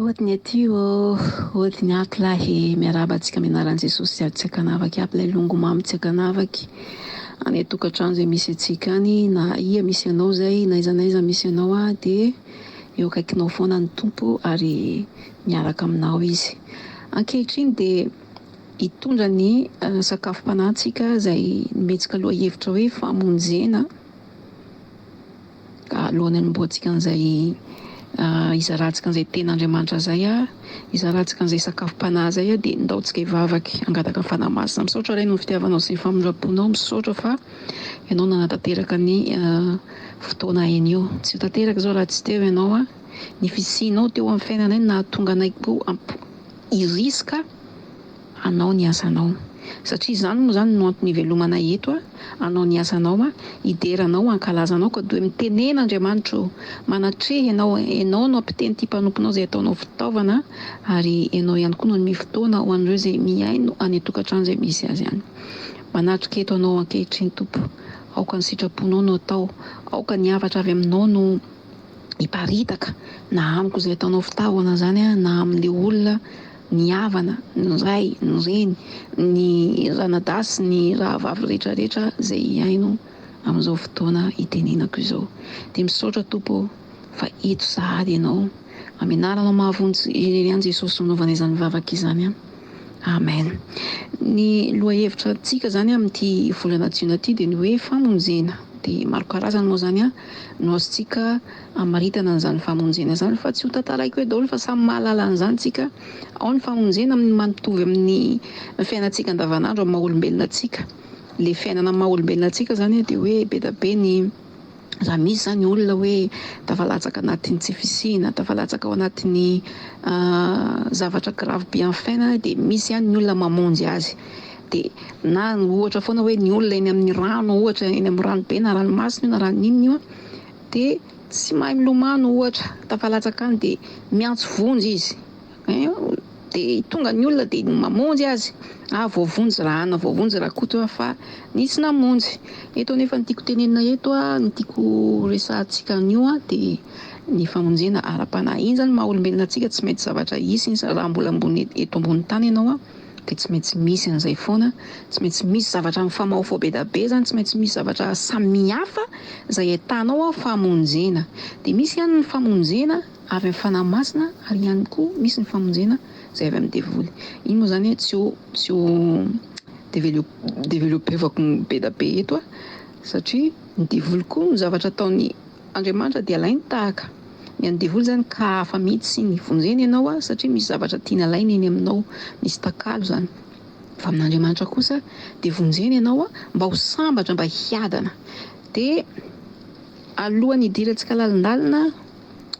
Ody ny aty ô! Ody ny aky lahy e! Miarahaba antsika amin'ny anaran'i Jesosy sady tsy ankanavaka aby ilay longo mamy tsy ankanavaka any an-tokantrano izay misy antsika any na aia misy anao izay na aiza na aiza misy anao aho dia eo akaikinao foana ny Tompo ary miaraka aminao Izy. Ankehitriny dia Hitondra ny sakafom-panahintsika izay nometsika lohahevitra hoe famonjena ka alohan'ny hanombohantsika an'izay hizarantsika an'izay tena Andriamanitra izay, hizarantsika an'izay sakafom-panahy izay dia ndaontsika hivavaka hangataka ny Fanahy Masina. Misaotra Ray noho ny fitiavanao sy ny famindram-ponao, misaotra fa Ianao nanatanteraka ny fotoana anio. Tsy ho tanteraka izao raha tsy teo Ianao, ny fisianao teo amin'ny fiainanay no nahatonga anay koa hiriska hanao ny asanao. Satria izany moa izany no antony hivelomana eto a, hanao ny asanao a, hidera anao, hankalaza anao ka doe mitenena Andriamanitra o, manatreha ianao, ianao no ampiteny ity mpanomponao izay ataonao fitaovana ary ianao ihany koa no hanome fotoana ho an'ireo izay mihaino any an-tokantrano izay misy azy any. Manatrika eto anao ankehitriny Tompo, aoka ny sitraponao no atao, aoka ny hafatra avy aminao no. hiparitaka na amiko izay ataonao fitahona izany na amin'ilay olona ny havana, ny ray, ny reny, ny ranadahy sy ny rahavavy rehetra rehetra izay hihaino amin'izao fotoana hitenenako izao. Dia misaotra Tompo ô fa eto sahady Ianao. Amin'ny anaranao mahavonjy irery ihany Jesosy no anaovana izany vavaka izany. Amen. Ny lohahevitra antsika izany amin'ity volana jiona ity dia ny hoe famonjena. Dia maro karazany moa izany an. no azontsika amaritana an'izany famonjena izany fa tsy ho tantaraiko hoe daholo fa samy mahalala an'izany tsika, ao ny famonjena amin'ny maha mitovy amin'ny fiainantsika andavanandro amin'ny maha olombelona antsika, ilay fiainana amin'ny maha olombelona antsika izany dia hoe be dia be ny raha misy izany olona hoe tafalatsaka anatin'ny tsy fisiana, tafalatsaka ao anatin'ny zavatra gravy be amin'ny fiainana dia misy ihany ny olona mamonjy azy. Dia na ohatra foana hoe ny olona eny amin'ny rano ohatra, eny amin'ny ranobe na ranomasina io na rano inona io an, dia tsy mahay milomano ohatra, tafalatsaka any dia miantso vonjy izy ein, dia tonga ny olona dia mamonjy azy, ah voavonjy ra ana, voavonjy ra koto an fa nisy namonjy. Eto anefa ny tiako tenenina eto an, ny tiako resahantsika an'io an dia ny famonjena ara-panahy. Iny izany maha olombelona antsika tsy maintsy zavatra hisy iny, raha mbola ambony eto ambony tany ianao an, dia tsy maintsy misy an'izay foana, tsy maintsy misy zavatra mifamahofaho be da be zany, tsy maintsy misy zavatra samihafa izay ahitanao ao famonjena. Dia misy ihany ny famonjena avy amin'ny Fanahy Masina ary ihany koa misy ny famonjena izay avy amin'ny devoly. Iny moa izany tsy ho tsy ho develio developevako be da be eto aho satria ny devoly koa ny zavatra ataony Andriamanitra dia alainy tahaka ny an'ny devoly izany ka hafa mihitsy ny vonjeny ianao satria misy zavatra tiany alaina eny aminao, misy takalo izany fa amin'Andriamanitra kosa dia vonjeny ianao mba ho sambatra mba hiadana dia alohan'ny hidirantsika lalindalina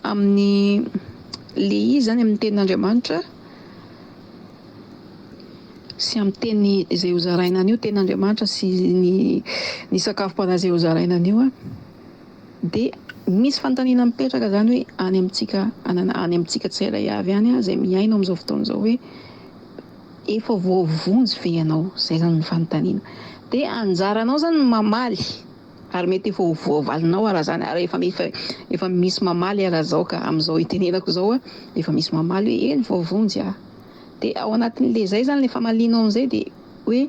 amin'ny le izy izany amin'ny tenin'Andriamanitra sy amin'ny teny izay hozaraina an'io tenin'Andriamanitra sy ny ny sakafom-panahy izay hozaraina an'io. dia misy fanontaniana mipetraka izany hoe any amintsika any amintsika tsirairay avy any izay mihaino amin'izao fotoana izao hoe efa voavonjy ve ianao? izay izany ny fanontaniana dia anjaranao izany ny mamaly ary mety efa ho voavalinao ary izany ary efa efa efa misy mamaly ary izao ka amin'izao itenenako izao a efa misy mamaly hoe eny voavonjy aho dia ao anatin'ilay izay izany ilay famalianao an'izay dia hoe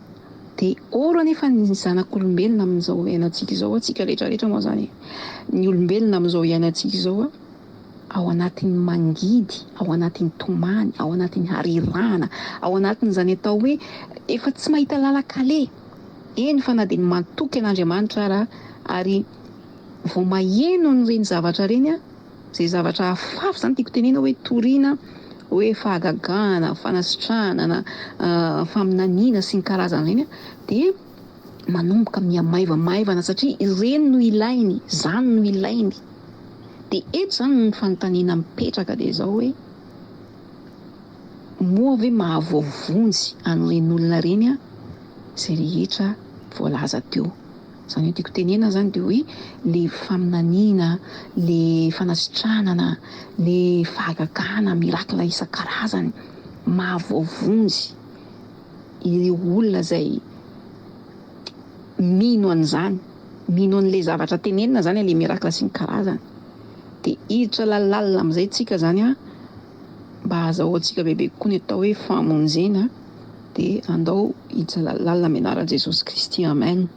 Dia ôro anefa ny zanak'olombelona amin'izao iainantsika izao, antsika rehetra rehetra moa izany e! Ny olombelona amin'izao iainantsika izao ao anatin'ny mangidy, ao anatin'ny tomany, ao anatin'ny harirahana, ao anatin'izany atao hoe efa tsy mahita lalan-kaleha, eny fa na dia ny matoky an'Andriamanitra ara ary vao maheno an'ireny zavatra ireny a! Izay zavatra hafahafa izany tiako tenena hoe toriana hoe fahagagana, fanasitrahana na faminaniana sy ny karazany ireny a, dia manomboka miha maivamaivana satria ireny no ilainy, izany no ilainy. Dia eto izany no ny fanontaniana mipetraka dia izao hoe, moa ve mahavoavonjy an'ireny olona ireny izay rehetra voalaza teo? Zany hoe tiako tenenina zany de hoe le faminaniana, le fanasitranana, le fahagagana, miracle isan-karazany maha voavonjy ireo olona zay mino an'izany, mino an'le zavatra tenenina zany le miracle sy ny karazany de hiditra lalalina amizay tsika zany a. mba hazahoantsika bebe kokoa ny atao hoe fahamonjena dia andao hijaly lalina amin'ny anaran'i Jesosy Kristy Amen.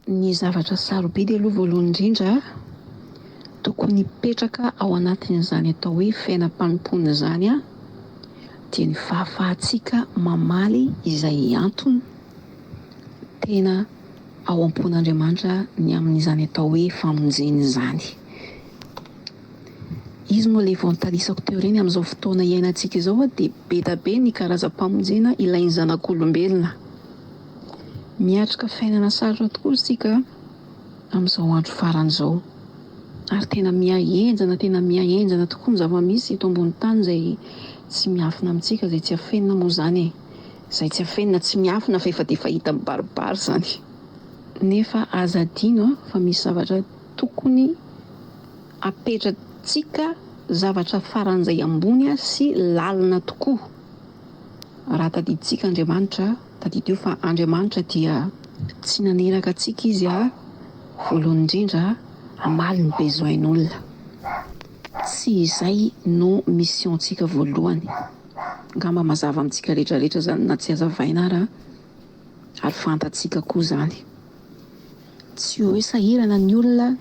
Ny zavatra sarobidy aloha voalohany indrindra tokony hipetraka ao anatin'izany atao hoe fiainam-panompoana izany dia ny fahafahantsika mamaly izay antony tena ao am-pon'Andriamanitra ny amin'izany atao hoe famonjena izany. Izy moa ilay vao nitalisako teo ireny amin'izao fotoana iainantsika izao dia bedabe ny karazam-pamonjena ilain'ny zanak'olombelona. Miatrika fiainana sarotra tokoa isika amin'izao andro farany izao ary tena miha henjana tena miha henjana tokoa ny zava-misy eto ambonin'ny tany izay tsy miafina amintsika izay tsy afenina moa izany e! izay tsy afenina tsy miafina fa efa dia efa hita mibaribary izany. Nefa aza adino fa misy zavatra Tokony apetratsika zavatra faran'izay ambony sy lalina tokoa. Raha tadidintsika Andriamanitra, tadidio fa Andriamanitra dia tsy naniraka antsika Izy ha, voalohany indrindra, hamaly ny besoin-olona. Tsy izay no mission-tsika voalohany. Angamba mazava amintsika rehetra rehetra izany na tsy hazavaina ara ary fantatsika koa izany. Tsy hoe sahirana ny olona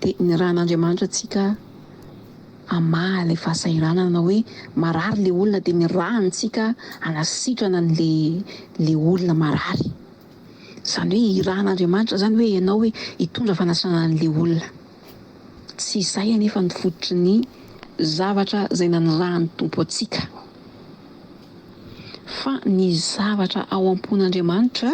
dia nirahan'Andriamanitra antsika hamaha ilay fahasahiranana hoe marary ilay olona dia nirahany tsika hanasitrana an'ilay ilay olona marary. Izany hoe irahan'Andriamanitra izany hoe ianao hoe hitondra fanasana an'ilay olona. Tsy izay anefa no fototry ny zavatra izay nanirahan'ny Tompo antsika fa ny zavatra ao am-pon'Andriamanitra.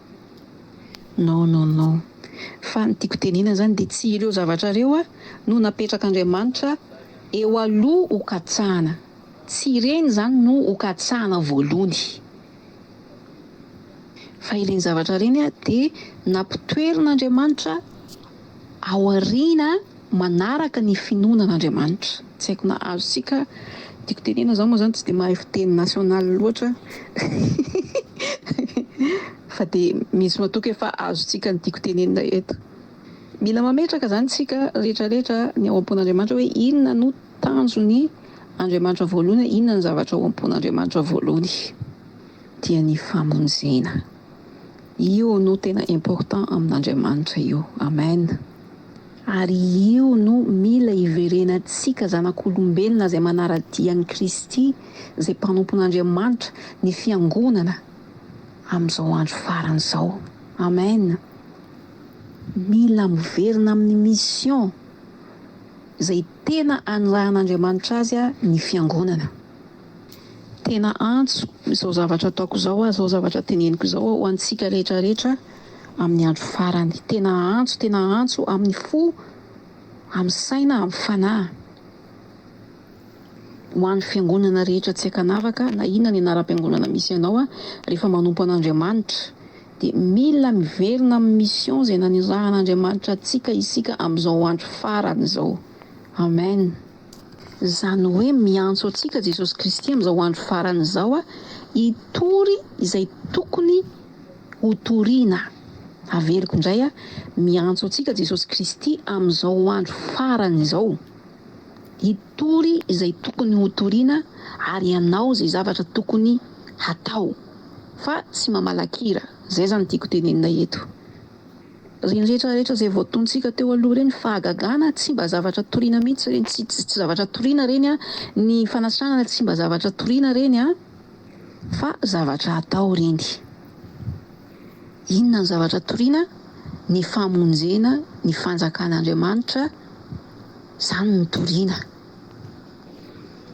Non non non fa ny tiako tenena zany de tsy ireo zavatra reo a no napetraka Andriamanitra eo aloha ho katsahana tsy ireny zany no ho katsahana voalohny fa ireny zavatra reny a de nampitoerina Andriamanitra aoriana manaraka ny finoana an'Andriamanitra. Tsy haiko na azontsika tiako tenena zao moa zany tsy de mahay fiteny national loatra fa de misy matoky efa azontsika ny tiako tenenina eto. Mila mametraka zany tsika rehetra rehetra ny ao am-pon'Andriamanitra hoe inona no tanjon'ny Andriamanitra voalohany, inona ny zavatra ao am-pon'Andriamanitra voalohany dia ny famonjena. Io no tena important amin'Andriamanitra io. Amen. Ary io no mila hiverenantsika zanak'olombelona izay manara-dia an'i Kristy, izay mpanompon'Andriamanitra, ny fiangonana, amin'izao andro farany izao. Amen. Mila miverina amin'ny mission izay tena anirahan'Andriamanitra azy ny fiangonana. Tena antso izao zavatra ataoko izao aho, izao zavatra teneniko izao aho ho antsika rehetra rehetra amin'ny andro farany. Tena antso, tena antso amin'ny fo, amin'ny saina, amin'ny fanahy. Ho an'ny fiangonana rehetra tsy ankanavaka, na inona ny anaram-piangonana misy anao aho, rehefa manompo an'Andriamanitra, dia mila miverina amin'ny mission izay nanirahan'Andriamanitra antsika isika amin'izao andro farany izao. Amen. Izany hoe miantso antsika Jesosy Kristy amin'izao andro farany izao hitory izay tokony hotorina. Averiko indray, miantso antsika Jesosy Kristy amin'izao andro farany izao hitory izay tokony hotorina ary hanao izay zavatra tokony hatao fa tsy mamalakira. Izay izany tiako tenenina eto. Ireny rehetra rehetra izay voatonontsika teo aloha ireny, fahagagana, tsy mba zavatra toriana mihitsy ireny, tsy tsy zavatra toriana ireny an, ny fanasitranana tsy mba zavatra toriana ireny an, fa zavatra atao ireny. Inona ny zavatra toriana? Ny famonjena, ny fanjakan'Andriamanitra, izany no toriana.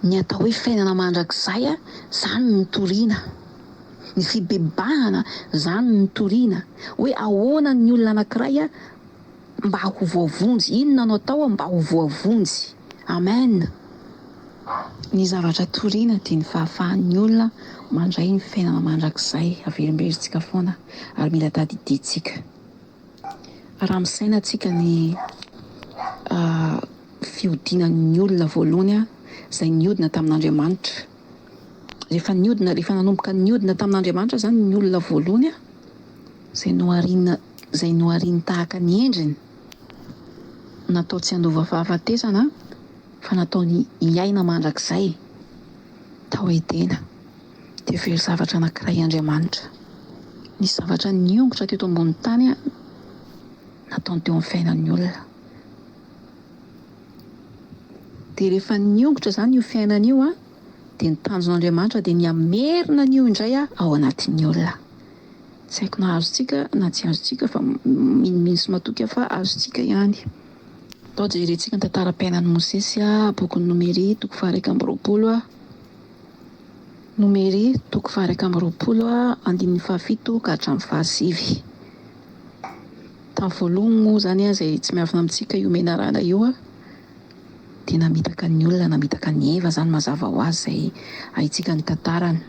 Ny atao hoe fiainana mandrakizay, izany no toriana. Ny fibebahana zany no toriana hoe ahoana ny olona anakiray mba ho voavonjy, inona no atao mba ho voavonjy. Amen. Ny zavatra toriana dia ny fahafahan'ny olona mandray ny fiainana mandrakizay averimberitsika foana ary mila tadidintsika raha misaina atsika ny fiodinan'ny olona voalohany izay niodina tamin'Andriamanitra Rehefa niodina, rehefa nanomboka niodina tamin'Andriamanitra izany ny olona voalohany, izay nohariana, izay nohariany tahaka ny endriny, natao tsy handova fahafatesana fa nataony hiaina mandrakizay tao Edena, dia very zavatra anankiray Andriamanitra. Nisy zavatra niongotra teto ambonin'ny tany nataony teo amin'ny fiainan'ny olona. Dia rehefa niongotra izany io fiainana io an, dia ny tanjon'Andriamanitra dia ny hamerina an'io indray an ao anatin'ny olona. Tsy haiko na azontsika na tsy azontsika fa minomino sy matoky aho fa azontsika ihany. Atao jerentsika ny tantaram-piainan'i Mosesy an, bokin'ny Nomery toko faha-iraika amby roapolo an, Nomery toko faha-iraika amby roapolo an, andininy faha-fito ka hatramin'ny faha-sivy. Tamin'ny voalohany moa izany izay tsy miavona amintsika io menarana io dia namitaka ny olona, namitaka an'i Eva izany mazava ho azy izay haintsika ny tantarany.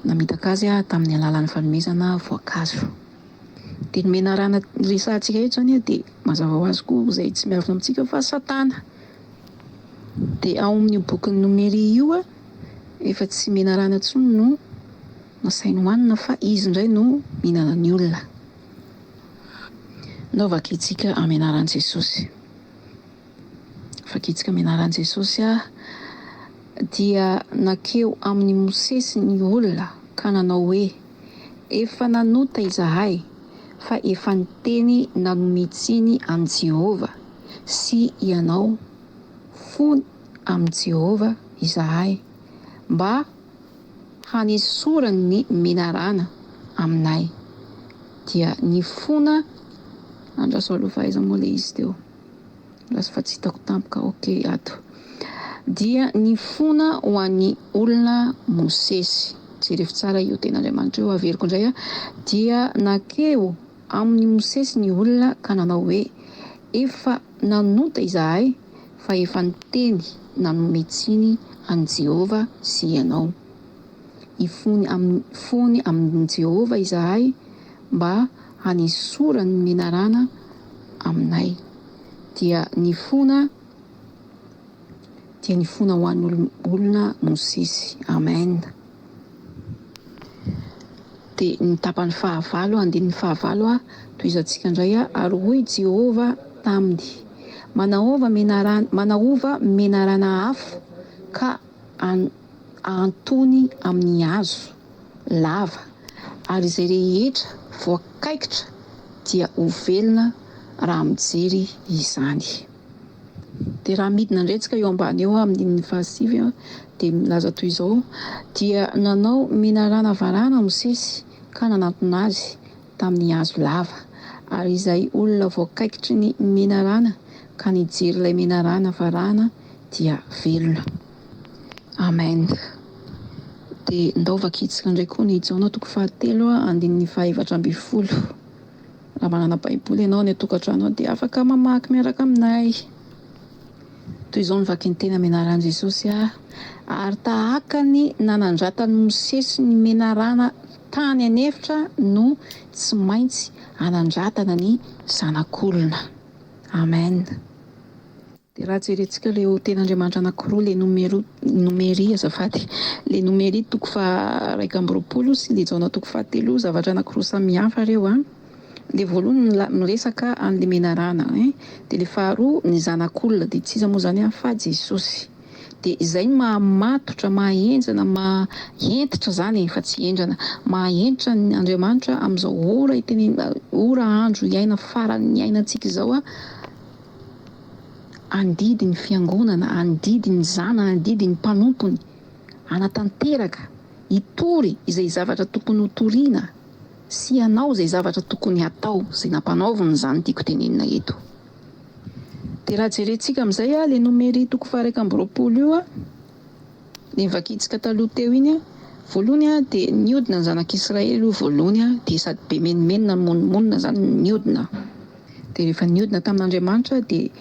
Namitaka azy tamin'ny alalan'ny fanomezana voankazo. Dia ny menarana resahantsika eto izany dia mazava ho azy koa izay tsy miavona amintsika fa Satana. Dia ao amin'io bokin'ny Nomeria io efa tsy menarana intsony no nasainy hohanina fa izy indray no mihinana ny olona. Ndao vakitsika amin'ny anaran'i Jesosy. Vakitsika amin'ny anaran'i Jesosy aho. Dia nankeo amin'i Mosesy ny olona ka nanao hoe, Efa nanota izahay, fa efa niteny nanome tsiny an'i Jehovah sy ianao fony amin'i Jehovah izahay, mba hanesorany ny menarana aminay dia ny fona andraso alofa aiza moa le izy teo andraso fa tsy hitako tampoka ok ato dia ny fona ho an'ny olona mosesy jerevo tsara io tena Andriamanitra io averiko indray a dia nakeo amin'ny mosesy ny olona ka nanao hoe efa nanota izahay fa efa niteny nanome tsiny an'i Jehovah sy ianao. Hifony amin'ny fony amin'i Jehovah izahay mba hanesorany ny menarana aminay. Dia nifona dia nifona ho an'olona Mosesy. Amen. Dia ny tapany fahavalo, andininy fahavalo, Tohizantsika indray, Ary hoy Jehovah taminy, Manaova menarana, manaova menarana afo ka ahantony amin'ny hazo lava, ary izay rehetra voakaikitra dia ho velona raha mijery izany. Dia raha midina indray tsika eo ambany eo amin'ny ndininy fahasivy dia milaza toy izao, Dia nanao menarana varahana Mosesy ka nanantona azy tamin'ny hazo lava. Ary izay olona voakaikitry ny menarana ka nijery ilay menarana varahana dia velona. Amen. Dia ndao vakitsika indray koa ny Jaona toko fahatelo andininy fahaefatra ambin'ny folo. Raha manana baiboly ianao any an-tokantrano ao dia afaka mamaky miaraka aminay. Toy izao no vakiny teny amin'ny anaran'i Jesosy aho, ary tahaka ny nanandratan'i Mosesy ny menarana tany an'efitra no tsy maintsy hanandratana ny Zanak'olona. Amen. Dia raha jerentsika ireo tena Andriamanitra anankiroa, ilay Nomeru, Nomeri, azafady, ilay Nomeri toko faha iraika amby roapolo sy ilay Jaona toko fahatelo, zavatra anankiroa samihafa ireo an! Ilay voalohany mila, miresaka an'ilay menarana ein! Dia ilay faharoa ny Zanak'olona, dia tsy iza moa izany an! fa Jesosy. Dia izay no maha matotra, maha henjana, maha hentitra izany e! fa tsy hendrana, maha hentitra an' Andriamanitra amin'izao ora itenenina, ora, andro iaina, faran'ny iainantsika izao an! Handidy ny Fiangonana, handidy ny zanany, handidy ny mpanompony hanatanteraka, hitory izay zavatra tokony hotoriana sy hanao izay zavatra tokony hatao, izay nampanaoviny izany tiako tenenina eto. Dia raha jerentsika amin'izay ilay nomery toko faha iraika amby roapolo io, Ny vakitsika taloha teo iny a, voalohany a dia niodina ny zanak'Israely aloha voalohany a, dia sady be menomenona mimonomonona zany niodina, dia rehefa niodina tamin'Andriamanitra dia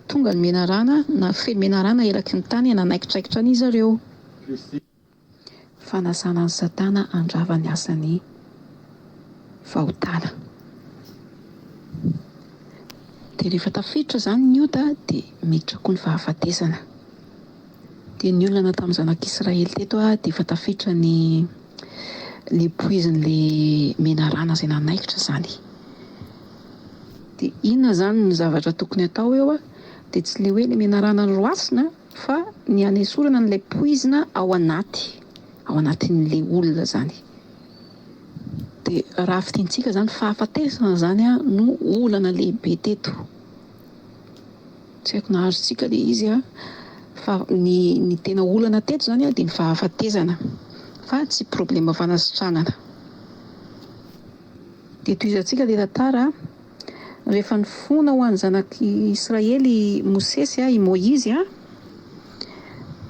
tonga ny menarana nafehy menarana eraky ny tany nanaikitraikitra an' izareo. Fanasana an'i Satana handrava ny asan'ny fahotana. Dia rehefa tafiditra izany ny ota dia miditra koa ny fahafatesana. Dia ny olana tamin'ny zanak'Israely teto dia efa tafiditra ny ilay poizin'ilay menarana izay nanaikitra izany. Dia inona izany ny zavatra tokony atao eo dia tsy ilay hoe ilay menarana noroasina fa ny hanesorana an'ilay poizina ao anaty, ao anatin'ilay olona izany. Dia raha fidintsika izany fahafatesana izany no olana lehibe teto. Tsy haiko na azontsika le izy an! Fa ny ny tena olana teto izany an dia ny fahafatezana fa tsy problema fanasitranana. Dia tohizantsika ilay tantara an! Rehefa nifona ho an'ny zanak'i Israely i Mosesy an, i Moizy an,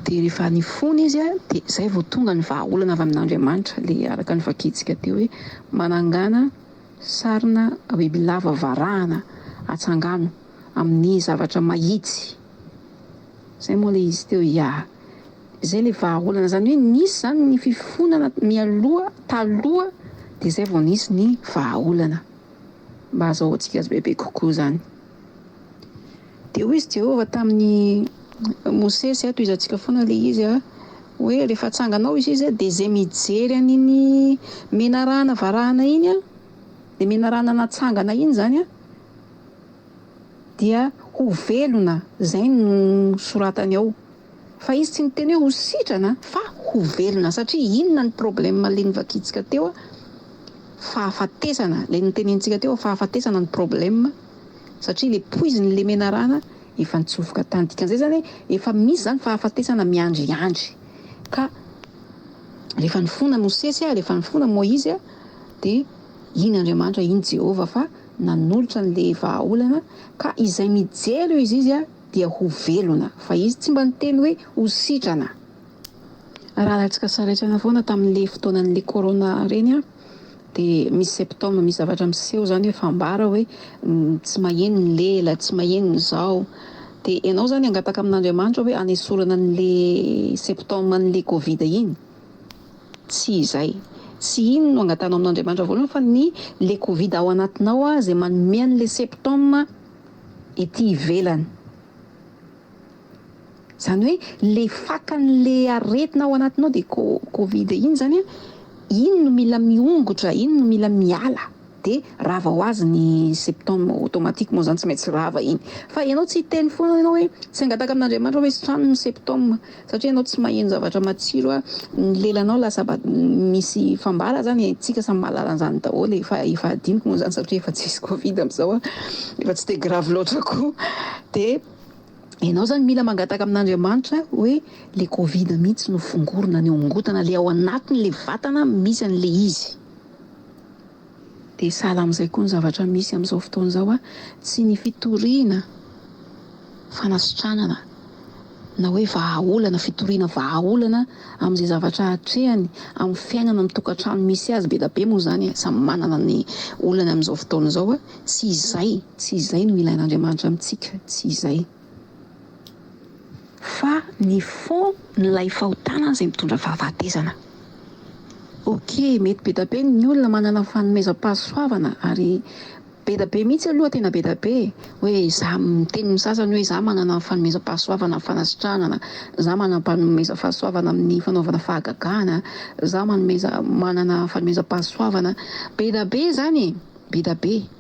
dia rehefa nifona izy an dia izay vao tonga ny vahaolana avy amin'Andriamanitra, ilay araka ny vakintsika teo hoe manangana, Sarina bibilava varahana atsangano amin'ny zavatra mahitsy. Zay moa le izy teo ya. Zay le vahaolana. Izany hoe nisy izany ny fifonana mialoha, taloha dia izay vao nisy ny vahaolana. Mba azahoantsika azy bebe kokoa izany. Dia hoy izy Jehovah tamin'i Mosesy, ato izantsika foana ilay izy a, hoe, Rehefa hatsangana ao izy dia izay mijery an'iny menarana varahana iny a, ilay menarana natsangana iny izany a, dia ho velona. Izay no soratany ao. Fa izy tsy niteny hoe ho sitrana fa ho velona satria inona ny problème le novakintsika teo a? Fahafatesana le notenenintsika teo a fahafatesana no problème satria le poiziny le menarana efa nitsofoka tany dikan'izay zany hoe efa misy zany fahafatesana miandry andry ka rehefa nifona Mosesy a rehefa nifona Moizy a de iny Andriamanitra iny Jehovah fa nanolotra an'le vahaolana ka izay mijery eo izy izy a dia ho velona fa izy tsy mba niteny hoe ho sitrana raha alatsika saraitsana foana taminle fotoananle corona reny dia misy septembre misy zavatra miseho zany hoe fambara hoe tsy maheno ny lela tsy maheno ny zao dia ianao zany angataka amin'Andriamanitra hoe anesorana anle septembre anle covid iny tsy izay tsy iny no angatanao amin'Andriamanitra voalohany fa ny le covid ao anatinao izay manome anle septembre ety ivelany. Izany hoe le fakan'le aretina ao anatinao de covid iny zany a, iny no mila miongotra, iny no mila miala de rava ho azy ny symptômes automatiquement zany tsy maintsy rava iny. Fa ianao tsy hiteny foana ianao hoe tsy angataka amin'Andriamanitra hoe sotroano ny symptômes. Satria ianao tsy maheno zavatra matsiro a, ny lelanao lasa ba misy fambara zany e, tsika samy mahalala an'zany daholo e, fa efa adinoko moa zany satria efa tsisy covid amzao a, efa tsy de grave loatra koa, de ianao zany mila mangataka amin'Andriamanitra hoe le covid mihitsy no fongorina any ao am-gotana, le ao anatiny le vatana misy an'le izy. Dia sahala amin'izay koa ny zavatra misy amin'izao fotoana izao, tsy ny fitoriana fanasitranana na hoe vahaolana, fitoriana vahaolana amin'izay zavatra atrehany amin'ny fiainana amin'ny tokantrano misy azy, be dia be moa izany e, samy manana ny olany amin'izao fotoana izao, tsy izay, tsy izay no ilain'Andriamanitra amintsika, tsy izay. Fa ny fond n'ilay fahotana izay mitondra fahafatesana. Ok, mety be da be ny olona manana fanomezam-pahasoavana ary be da be mihitsy aloha tena be da be hoe za miteny ny sasany hoe za manana fanomezam-pahasoavana fanasitranana, za manam-panomeza fahasoavana amin'ny fanaovana fahagagana, za manomeza manana fanomezam-pahasoavana be da be izany e! be da be.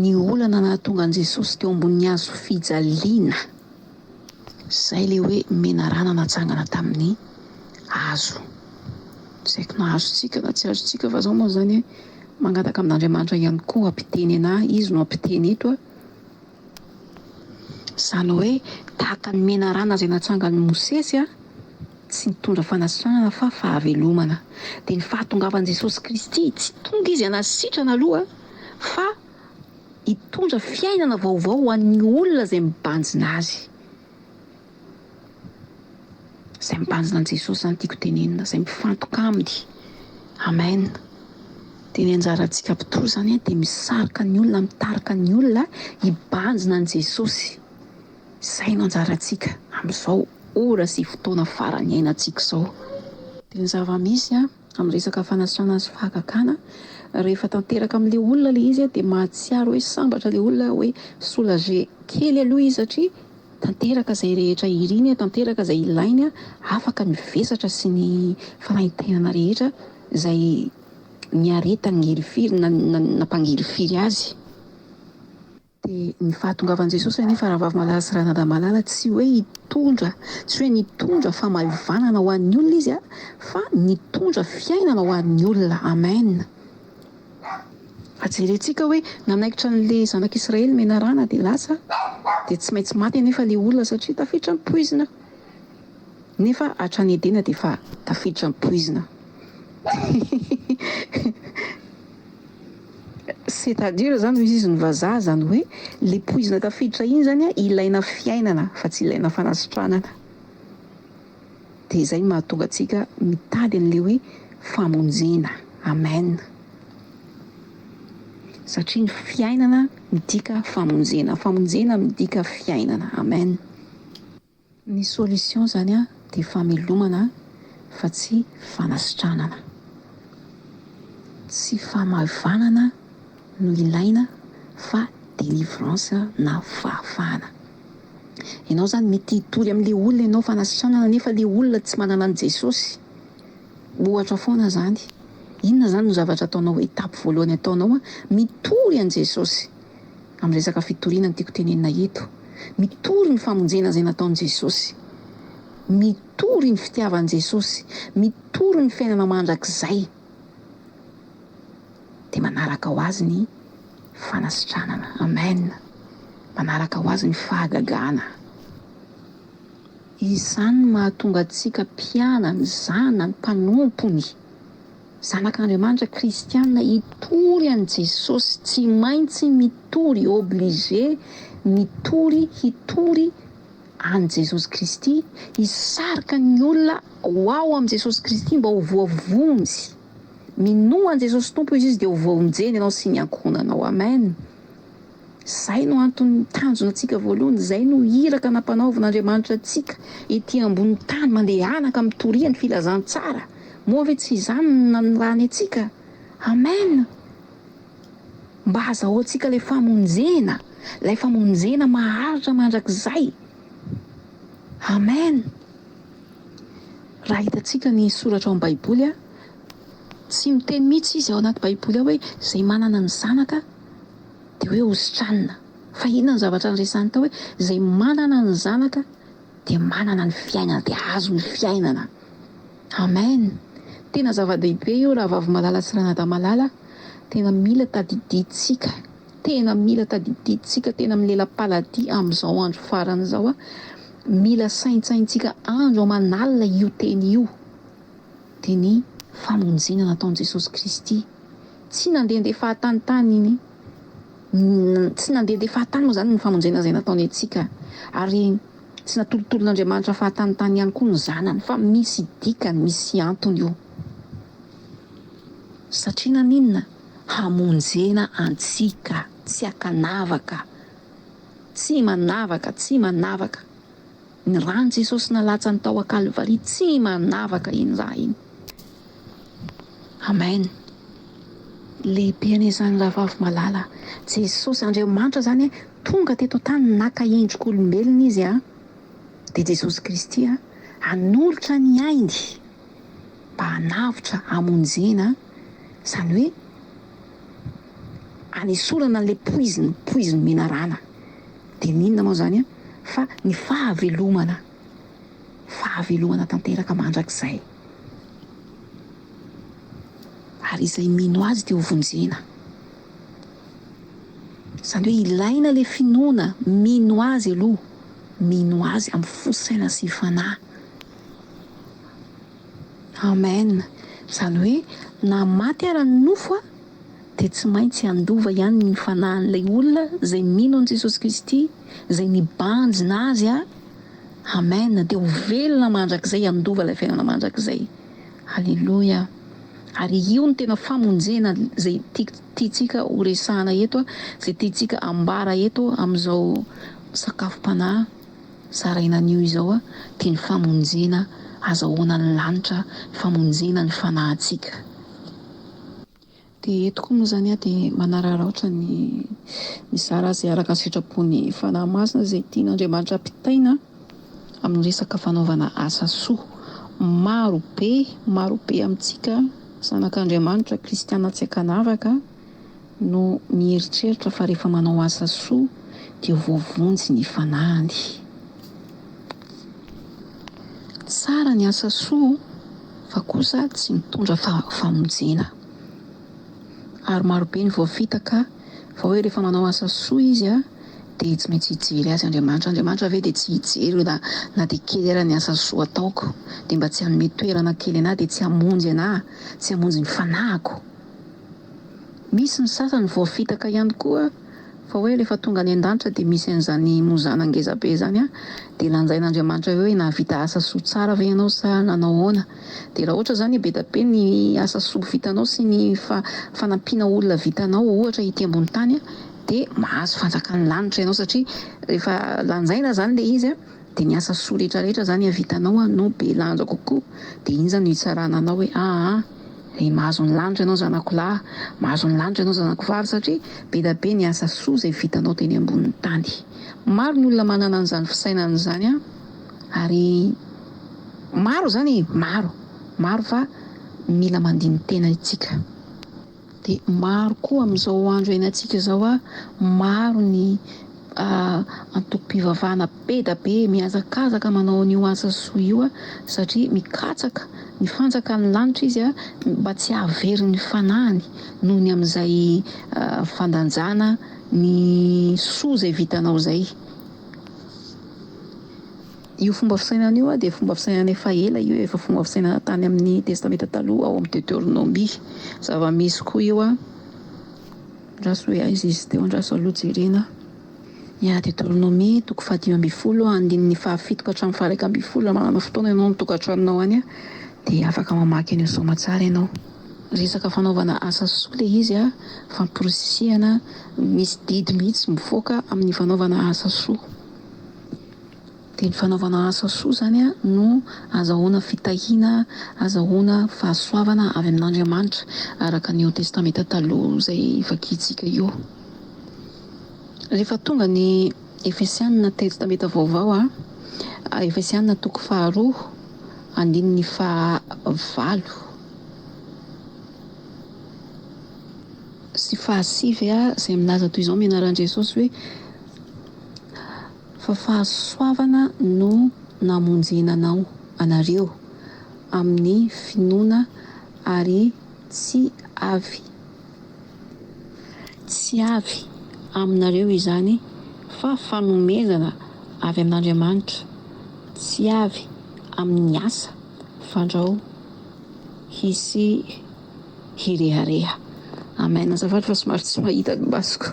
ny olana nahatonga an'i Jesosy teo ambonin'ny hazo fijaliana. Izay ilay hoe menarana natsangana tamin'ny hazo. Tsy haiko na azontsika na tsy azontsika fa izao moa izany hoe mangataka amin'Andriamanitra ihany koa hampiteny anà, Izy no hampiteny eto a. Izany hoe tahaka ny menarana izay natsangan'i Mosesy, tsy nitondra fanasitranana fa fahavelomana. Dia ny fahatongavan'i Jesosy Kristy, tsy tonga Izy hanasitrana aloha fa hitondra fiainana vaovao ho an'ny olona izay mibanjina Azy. Izay mibanjina an'i Jesosy izany tiako tenenina, izay mifantoka Aminy. Amen. Dia ny anjarantsika mpitory izany dia misarika ny olona, mitarika ny olona hibanjina an'i Jesosy. Izay no anjarantsika amin'izao ora sy fotoana farany iainantsika izao. Dia ny zava-misy an. amin'ny resaka fanasana sy fahagagana rehefa tanteraka amin'ilay olona ilay izy dia mahatsiaro hoe sambatra ilay olona hoe soulager kely aloha izy satria tanteraka izay rehetra iriny, tanteraka izay ilainy, afaka mivesatra sy ny fanaintainana rehetra izay niaretan'i ngelifiry na na nampangelifiry azy. Dia ny fahatongavan'i Jesosy anefa rahavavy malala sy ranadahy malala tsy hoe hitondra, tsy hoe nitondra famaivanana ho an'ny olona izy fa nitondra fiainana ho an'ny olona. Amen! Fa jerentsika hoe nanaikitra an'ilay zanak'Israely menarana dia lasa dia tsy maintsy maty anefa ilay olona satria tafiditra ny poizina. Nefa hatrany Edena dia efa tafiditra ny poizina. C'est à dire zany hoy izy ny vazaha zany hoe le poizina tafiditra iny zany ilaina fiainana fa tsy ilaina fanasitranana de izay no mahatonga antsika mitady anle hoe famonjena amen satria ny fiainana midika famonjena famonjena midika fiainana amen. Ny solution izany dia famelomana fa tsy fanasitranana. Tsy famaevanana no ilaina fa delivrance na fahafahana. Ianao izany mety hitory amin'ilay olona ianao fanasitranana nefa ilay olona tsy manana an'i Jesosy. Ohatra foana izany. Inona izany no zavatra ataonao, étape voalohany ataonao? Mitory an'i Jesosy. Amin'ny resaka fitoriana no tiako tenenina eto. Mitory ny famonjena izay nataon'i Jesosy. Mitory ny fitiavan'i Jesosy. Mitory ny fiainana mandrakizay. Dia manaraka ho azy ny fanasitranana. Amen. Manaraka ho azy ny fahagagana. Izany no mahatonga antsika mpianany, zanany, mpanompony. Zanak'Andriamanitra kristianina hitory an'i Jesosy, tsy maintsy mitory, obligé, mitory, hitory an'i Jesosy Kristy, hisarika ny olona ho ao amin'i Jesosy Kristy mba ho voavonjy. Minoa an'i Jesosy Tompo izy, izy dia ho voavonjeny ianao sy ny ankohonanao. Amen. Izay no antony tanjona antsika voalohany, izay no iraka nampanaovin' Andriamanitra antsika ety ambony tany, mandehanaka mitoria ny filazantsara. Moa ve tsy izany no nanirany antsika? Amen! Mba hazahoantsika ilay famonjena, ilay famonjena maharitra mandrakizay. Amen! Raha hitantsika ny soratra ao amin'ny Baiboly, tsy miteny mihitsy Izy ao anaty Baiboly ao hoe, Izay manana ny Zanaka, Dia hoe hositranina. Fa inona no zavatra niresahany tao hoe izay manana ny zanaka dia manana ny fiainana, dia azo ny fiainana. Amen. Tena zava-dehibe io rahavavy malala sy ranadahy malala, tena mila tadidintsika, tena mila tadidintsika, tena milela-paladia amin'izao andro farany izao a, mila saintsaintsika andro aman'alina io teny io, dia ny famonjena nataon'i Jesosy Kristy. Tsy nandehandeha fahatany tany ny tsy nandehandeha fahatany moa izany ny famonjena izay nataony antsika, ary tsy natolotolon'Andriamanitra fahatany tany ihany koa ny Zanany, fa misy dikany, misy antony io. Satria naninona? Hamonjena antsika, tsy ankanavaka, tsy manavaka, tsy manavaka. Ny ran'i Jesosy nalatsany tao an-Kalvary tsy manavaka iny raha iny. Amen. Lehibe anie izany rahavavy malala. Jesosy Andriamanitra izany e, tonga teto an-tany naka endrik'olombelona izy a. Dia Jesosy Kristy a, hanolotra ny ainy mba hanavotra hamonjena, izany hoe hanesorana an'ilay poiziny, poizin'ny menarana. Dia n'inona moa izany fa ny fahavelomana, fahavelomana tanteraka mandrakizay. Ary izay mino Azy dia hovonjena. Izany hoe ilaina ilay finoana, mino Azy aloha, mino Azy amin'ny fo, saina sy fanahy. Amen! Izany hoe na maty ara ny nofo an dia tsy maintsy handova ihany ny fanahin'ilay olona izay mino an'i Jesosy Kristy izay nibanjina azy a! Amen! Dia ho velona mandrakizay handova ilay fiainana mandrakizay! Aleloia! Ary io no tena famonjena izay tiantsika ho resahana eto a! Izay tiantsika ambara eto amin'izao sakafom-panahy Zaraina anio izao dia ny famonjena azahoana ny lanitra, ny famonjena ny fanahintsika. Dia eto koa moa izany aho dia manararaotra ny mizara izay araka ny sitrapon'ny Fanahy Masina izay tian'Andriamanitra ampitaina amin'ny resaka fanaovana asa soa. Maro be, maro be amintsika zanak'Andriamanitra, kristiana tsy ankanavaka, no mieritreritra fa rehefa manao asa soa dia voavonjy ny fanahiny. Tsara ny asa soa fa kosa tsy mitondra famonjena. Ary marobe ny voafitaka fa hoe rehefa manao asa soa izy dia tsy maintsy hijery azy Andriamanitra. Andriamanitra ve dia tsy hijery na na dia kely ara ny asa soa ataoko? Dia mba tsy hanome toerana kely anah dia tsy hamonjy anah, tsy hamonjy ny fanahiko? Misy ny sasany voafitaka ihany koa fa hoe rehefa tonga any an-danitra dia misy an'izany mozana ngezabe izany an! dia lanjain'Andriamanitra eo hoe nahavita asa soa tsara ve ianao sa nanao ahoana? dia raha ohatra izany be da be ny asa soa vitanao sy ny fanampiana olona vitanao ohatra ety ambony tany dia mahazo fanjakan'ny lanitra ianao satria rehefa lanjaina izany ilay izy an! Dia ny asa soa rehetra rehetra zany havitanao an no be lanja kokoa dia iny zany no hitsarana anao hoe aa ry mahazo ny lanitra ianao zanako lahy mahazo ny lanitra ianao zanako vavy satria be da be ny asa soa izay vitanao teny ambonin'ny tany maro ny olona manana an'izany fisainana izany an ary maro izany e maro maro fa mila mandini-tena itsika. Dia maro koa amin'izao andro iainantsika izao a, maro ny antokom-pivavahana be da be mihazakazaka manao an'io asa soa io a, satria mikatsaka ny fanjakan'ny lanitra izy a, mba tsy hahavery ny fanahiny noho ny amin'izay fandanjana ny soa izay vitanao izay. Io fomba fisainana io dia fomba fisainana efa ela io efa fomba fisainana tany amin'ny testamenta taloha ao amin'ny Deoteronomia. Zava-misy koa io andraso hoe aiza izy teo andraso aloha jerena. Ya, Deoteronomia toko fahadimy ambin'ny folo andininy fahafito ka hatramin'ny faha iraika ambin'ny folo raha manana fotoana ianao ny tokantranonao any dia afaka mamaky an'io saoma tsara ianao. Resaka fanaovana asa soa ilay izy famporisihana misy didy mihitsy mivoaka amin'ny fanaovana asa soa. Dia ny fanaovana asa soa izany no azahoana fitahiana, azahoana fahasoavana avy amin'Andriamanitra, araka an'io Testamenta Taloha izay vakintsika io. Rehefa tonga ny Efesianina Testamenta Vaovao, Efesianina toko faharoa andininy fahavalo sy fahasivy izay milaza toy izao amin'ny anaran'i Jesosy hoe. Fa fahasoavana no namonjena anao, anareo, amin'ny finoana, ary tsy avy, tsy avy aminareo izany, fa fanomezana avy amin'Andriamanitra, tsy avy amin'ny asa, fandrao hisy hirehareha. Amen azafady fa somary tsy mahita ny masoko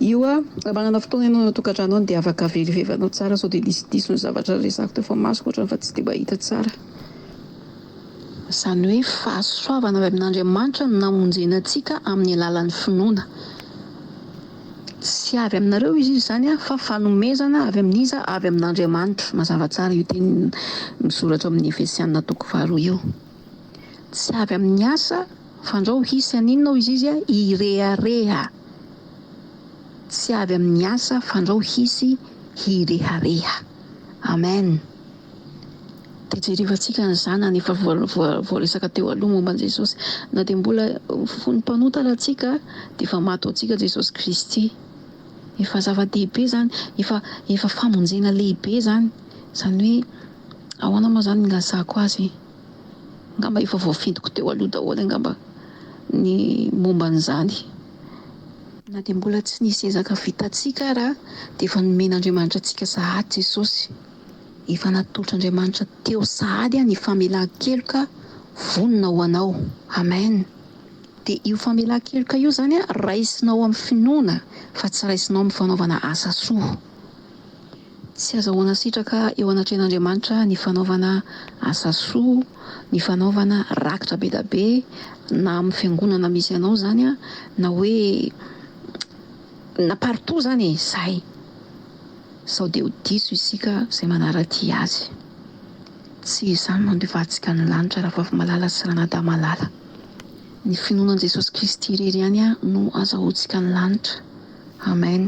io a! Raha manana fotoana ianao any an-tokantrano any dia afaka avereveranao tsara sao dia nisy diso ny zavatra niresahako teo fa masoko ohatrany fa tsy dia mahita tsara. Izany hoe fahasoavana avy amin'Andriamanitra no namonjena antsika amin'ny alalan'ny finoana. Tsy avy aminareo izy izy izany a! fa fanomezana avy amin'iza? avy amin'Andriamanitra. Mazava tsara io teny misoratra ao amin'ny Efesiana toko faharoa io. Tsy avy amin'ny asa fandrao hisy an inona hoy zizy an i rehareha Tsy avy amin'ny asa fandrao hisy hirehareha Amen Dia jerevantsika ny zanany efa voaresaka teo aloha momba an'i Jesosy Na dia mbola fony mpanota ara tsika dia efa maty ho antsika Jesosy Kristy Efa zava-dehibe izany Efa efa famonjena lehibe izany Izany hoe Ahoana moa izany ny hilazako azy? Angamba efa voafidiko teo aloha daholo angamba ny momba an'izany. Na dia mbola tsy nisy ezaka vitantsika ara dia efa nomen'Andriamanitra antsika sahady Jesosy. Efa natolotr'Andriamanitra teo sahady ny famelan-keloka vonona ho anao. Amen. Dia io famelan-keloka io izany raisinao amin'ny finoana fa tsy raisinao amin'ny fanaovana asa soa. Tsy azahoana sitraka eo anatrehan'Andriamanitra ny fanaovana asa soa, ny fanaovana rakitra be da be, na amin'ny fiangonana misy anao zany na hoe na partout zany e! zay sao de ho diso isika zay manaradia azy. Tsy izany no andevantsika ny lanitra Rahavavy malala sy Ranadahy malala. Ny finoana an'i Jesosy Kristy irery ihany no azahoantsika ny lanitra. Amen.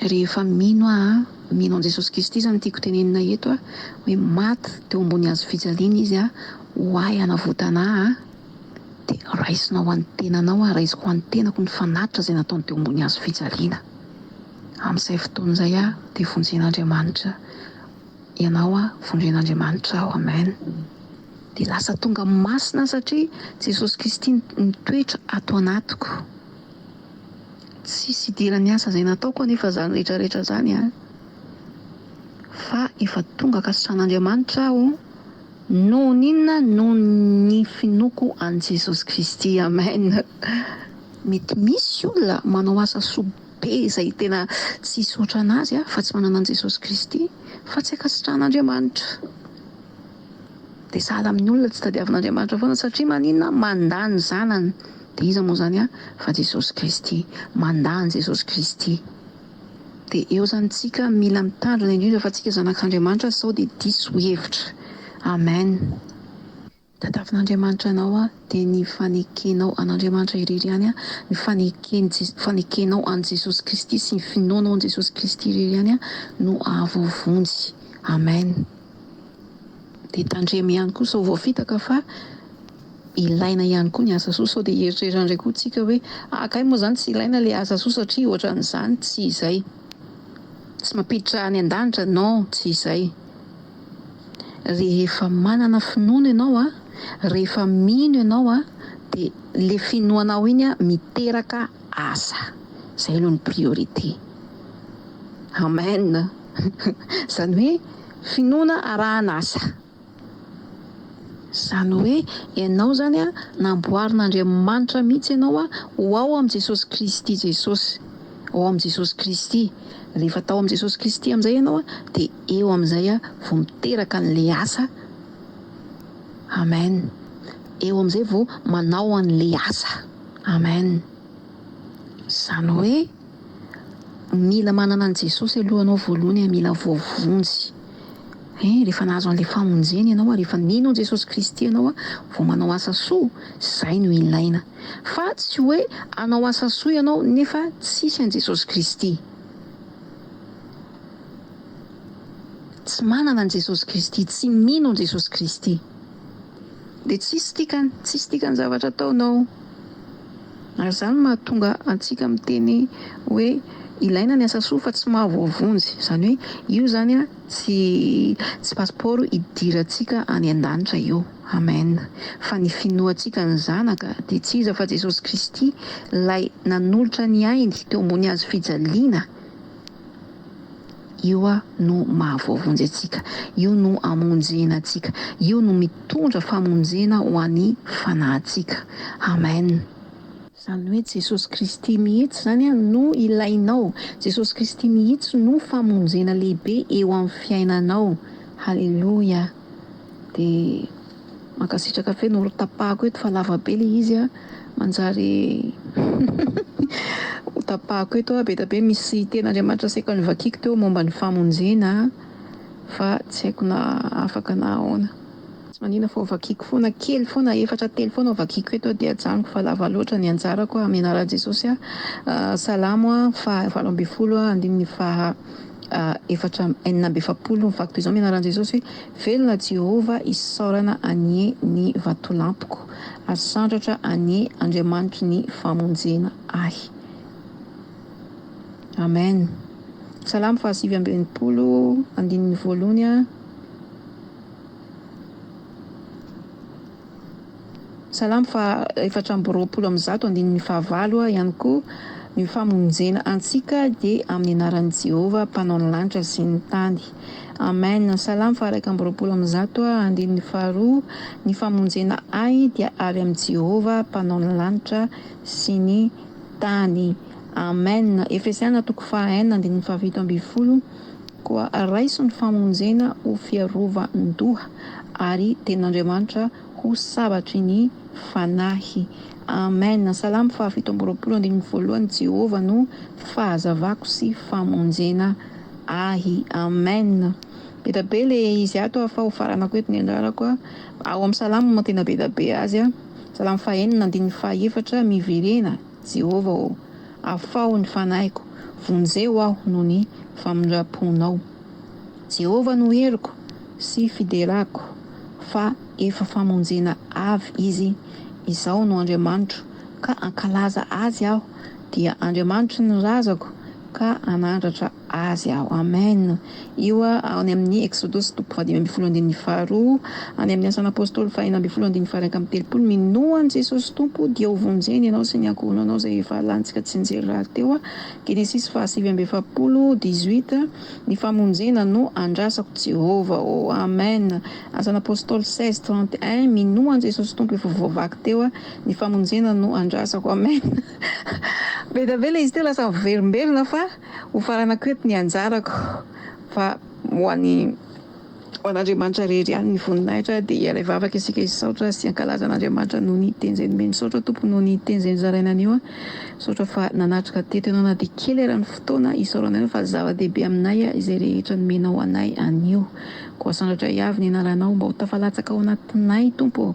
Rehefa mino aho an, mino an'i Jesosy Kristy izany tiako tenenina eto an, hoe maty teo ambony hazo fijaliana Izy an, ho ahy hanavotana ahy an, dia raisinao an'ny tenanao an, raisiko ho an'ny tenako ny fanatitra izay nataony teo ambony hazo fijaliana. Amin'izay fotoana izay aho dia vonjen'Andriamanitra ianao an, vonjen'Andriamanitra aho. Amen. Dia lasa tonga masina aho satria Jesosy Kristy mitoetra ato anatiko. Tsisy idiran'ny asa izay nataoko anefa izany rehetrarehetra izany an! Fa efa tonga kasasan'Andriamanitra aho noho n'inona? Noho ny finoako an'i Jesosy Kristy. Amen! Mety misy olona manao asa soa be izay tena tsisy ohatran'azy fa tsy manana an'i Jesosy Kristy fa tsy ankasitrahan'Andriamanitra. Dia sahala amin'ny olona tsy tadiavin'Andriamanitra foana satria maninona? Mandà ny zanany. Dia iza moa izany a fa Jesosy Kristy. Mandà an'i Jesosy Kristy. Dia eo izany tsika mila mitandrina indrindra fa tsika zanak'Andriamanitra sao dia diso hevitra. Amen. Tadiavin'Andriamanitra anao a dia ny fanekenao an'Andriamanitra irery ihany a, ny faneken fanekenao an'i Jesosy Kristy sy ny finoanao an'i Jesosy Kristy irery ihany a no ahavovonjy. Amen. Dia tandremo ihany koa sao voafitaka fa ilaina ihany koa ny asa soa sao dia hieritreritra indray koa tsika hoe ah kay moa izany tsy ilaina ilay asa soa satria ohatran'izany, tsy izay. Tsy mampiditra any an-danitra, non tsy izay. Rehefa manana finoana ianao an, rehefa mino ianao an, dia ilay finoanao iny an miteraka asa, izay aloha ny priorité. Amen! Izany hoe. Finoana arahana asa. Izany hoe ianao izany an, namboarin'Andriamanitra mihitsy ianao an, ho ao amin'i Jesosy Kristy Jesosy, ao amin'i Jesosy Kristy. Rehefa tao amin'i Jesosy Kristy amin'izay ianao an, dia eo amin'izay an, vao miteraka an'ilay asa. Amen. Eo amin'izay vao manao an'ilay asa. Amen. Izany hoe. Mila manana an'i Jesosy aloha ianao voalohany, mila voavonjy. Ein, rehefa nahazo an'ilay famonjena ianao ary efa nino an'i Jesosy Kristy ianao vao manao asa soa, izay no ilaina. Fa tsy hoe hanao asa soa ianao nefa tsisy an'i Jesosy Kristy. Tsy manana an'i Jesosy Kristy, tsy mino an'i Jesosy Kristy. Dia tsisy dikany, tsisy dikany zavatra ataonao. Ary izany no mahatonga antsika miteny hoe ilaina ny asa soa fa tsy mahavoavonjy. Izany hoe io izany tsy tsy pasipaoro hidirantsika any an-danitra io. Amen. Fa ny finoantsika ny Zanaka dia tsy iza fa Jesosy Kristy, Ilay nanolotra ny ainy teo ambony hazo fijaliana. Io no mahavoavonjy antsika. Io no amonjena antsika. Io no mitondra famonjena ho an'ny fanahintsika. Amen. Izany hoe Jesosy Kristy mihitsy izany no ilainao. Jesosy Kristy mihitsy no famonjena lehibe eo amin'ny fiainanao. Haleloia. Dia mankasitraka feno olo tapahako eto fa lava be le izy a, manjary ho tapahako eto a, be dia be misy teny Andriamanitra asaiko anivakiko teo momba ny famonjena a, fa tsy haiko na afaka na ahoana. Tsy manina fa ho vakiko foana kely foana, efatra telo foana ho vakiko eto dia ajanoko fa lava loatra ny anjarako a, amin'ny anaran'i Jesosy a, Salamo a, faha valo ambin'ny folo a, andininy faha. efatra amby enina amby efapolo ny vakoka izao mianaran'i Jesosy hoe, Velona Jehovah isaorana anie ny vatolampiko, ary sandratra anie Andriamanitry ny famonjena ahy. Amen. Salamo fahasivy amby enimpolo, andininy voalohany a. Salamo faha efatra amby roapolo amby zato andininy faha valo ihany koa ny famonjena antsika dia amin'ny anaran'i Jehovah mpanao ny lanitra sy ny tany. Amen! Salamo faha iraika amby roapolo amby zato andininy faha roa Ny famonjena ahy dia avy amin'i Jehovah mpanao ny lanitra sy ny tany. Amen! Efesiana toko faha enina andininy faha fito ambin'ny folo. Koa raiso ny famonjena ho fiarovan-doha, ary Tenin'Andriamanitra ho sabatry ny fanahy. Amen. Salamo fahafito amby roapolo andininy voalohany, Jehovah no fahazavako sy famonjena ahy. Amen. Be da be le izy ato a, fa ho faranako eto ny anjarako a. Ao amin'ny Salamo no tena be da be azy a. Salamo fahenina andininy fahaefatra, Miverena Jehovah ô, afaho ny fanahiko, vonjeo aho noho ny famindram-ponao. Jehovah no heriko sy fiderako, fa efa famonjena avy izy. Izaho no Andriamanitro, ka hankalaza azy aho, dia Andriamanitry ny razako, ka hanandratra Azy aho. Amen. Io ao any amin'ny Eksodosy toko fahadimy ambin'ny folo andininy faharoa, any amin'ny Asan'ny Apôstôly fahaenina ambin'ny folo andininy faha-iraika amby telopolo, Minoa an'i Jesosy Tompo, dia hovonjeny ianao sy ny ankohonanao izay efa lantsika tsy nijery rahateo aho, Genesisy fahasivy amby efapolo, dix-huit, Ny famonjena no andrasako Jehovah ô. Amen. Asan'ny Apôstôly seize, trente-un, Minoa an'i Jesosy Tompo efa voavaky teo aho, ny famonjena no andrasako. Amen. Be dia be ilay izy teo, lasa miverimberina fa. Hofaranako eto ny anjarako fa ho an'i ho an'Andriamanitra rery ihany ny voninahitra dia hialay vavaka isika hisaotra sy hankalaza an'Andriamanitra noho ny teny zay nomeny misaotra Tompo noho ny teny zay nozaraina anio an misaotra fa nanatrika teto ianao na dia kely ara ny fotoana isaorana ianao fa zava-dehibe aminay izay rehetra nomenao anay anio koa asandratra hiavy ny anaranao mba ho tafalatsaka ao anatinay Tompo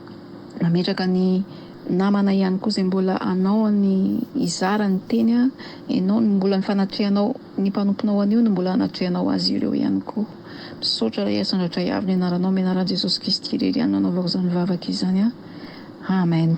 Mametraka ny namana ihany koa izay mbola anao ny hizara ny teny a, enao no mbola ny fanatrehanao ny mpanomponao anio no mbola anatrehanao azy ireo ihany koa. Misaotra Ray Asa Andratray Avo ny anaranao amin'ny anaran'i Jesosy Kristy irery ihany no anaovako izany vavaka izany a. Amen.